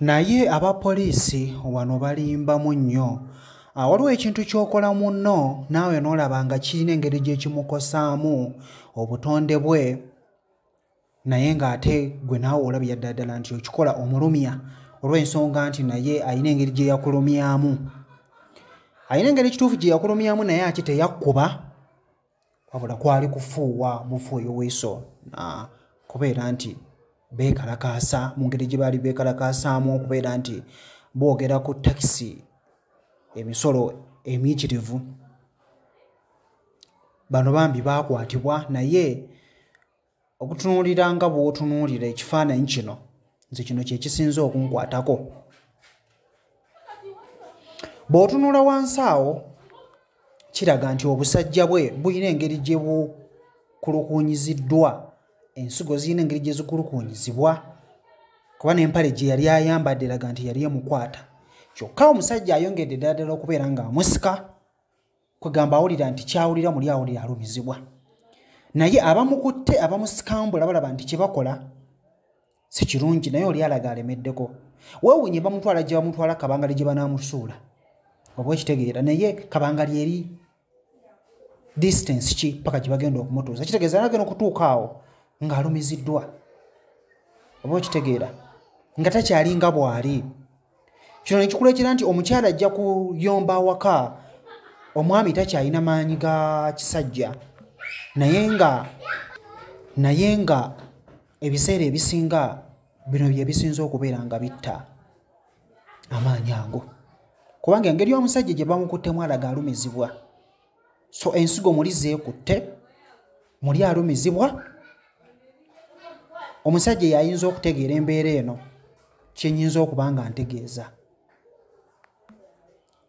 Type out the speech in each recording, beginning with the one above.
naye aba poliisi wano balimbamu nnyo ah, waliwo ekintu ky'okola munno naawe n'olaba nga kirina engeri gye kimukosaamu obutonde bwe naye ng'ate gwe naawe olabira ddala ddala nti okikola omulumya olw'ensonga nti naye alina engeri gye yakulumyamu alina engeri ekituufu gye yakulumyamu naye ate teyakkuba wabula kwali kufuuwa mufu oyo weso kubeera nti beekalakaasa mu ngeri gye baali beekalakaasaamu okubeera nti boogera ku takisi emisolo emiyitirivu bano bambi baakwatibwa naye okutunuulira nga bw'otunuulira ekifaananyi kino nze kino kye kisinze okunkwatako bw'otunula wansi awo kiraga nti obusajja bwe bulina engeri gye bukulukunyiziddwa ensigo zirina engeri gye zikulukunyizibwa kuba n'empale gye yali ayambadde eraga nti yali emukwata kyokka omusajja ayongedde ddala ddala okubeera ng'amusika kwegamba awulira nti kyawulira muli awulira alumizibwa naye abamukutte abamusikambula balaba nti kyebakola si kirungi naye oli alaga alemeddeko wewunye bamutwala gye bamutwala kabangali gye banamusuula oba ekitegeera naye kabangali eri distance ki paka gye bagenda okumutuuza kitegeeza nagenda okutuuka awo ng'alumiziddwa oba okitegeera nga takyalinga bwali kino nekikuleetera nti omukyala ajja kuyomba awaka omwami takyalina maanyi ga kisajja naye nga naye nga ebiseera ebisinga bino bye bisinza okubeera nga bitta amaanyi ago kubanga engeri omusajja gye bamukuttemu alaga alumizibwa so ensigo muli zeekutte muli alumizibwa omusajja yayinza okutegeera embeera eno kyenyinza okuba nga ntegeeza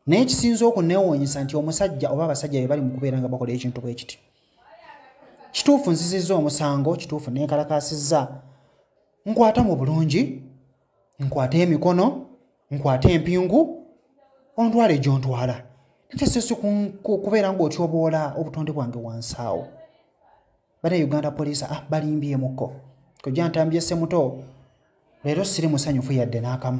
naye kisinza okunewuunyisa nti omusajja oba abasajja be bali mu kubeera nga bakola ekintu bwe kiti kituufu nzizizza omusango kituufu nenkalakasizza nkwata mu bulungi nkwate emikono nkwate empingu ontwala egyontwala nakyesesi kubeera ngaotyoboola obutonde bwange wansaawo bana uganda police ah, balimbyemukko kojantambye semuto leero siri musanyufu yadde n'akamu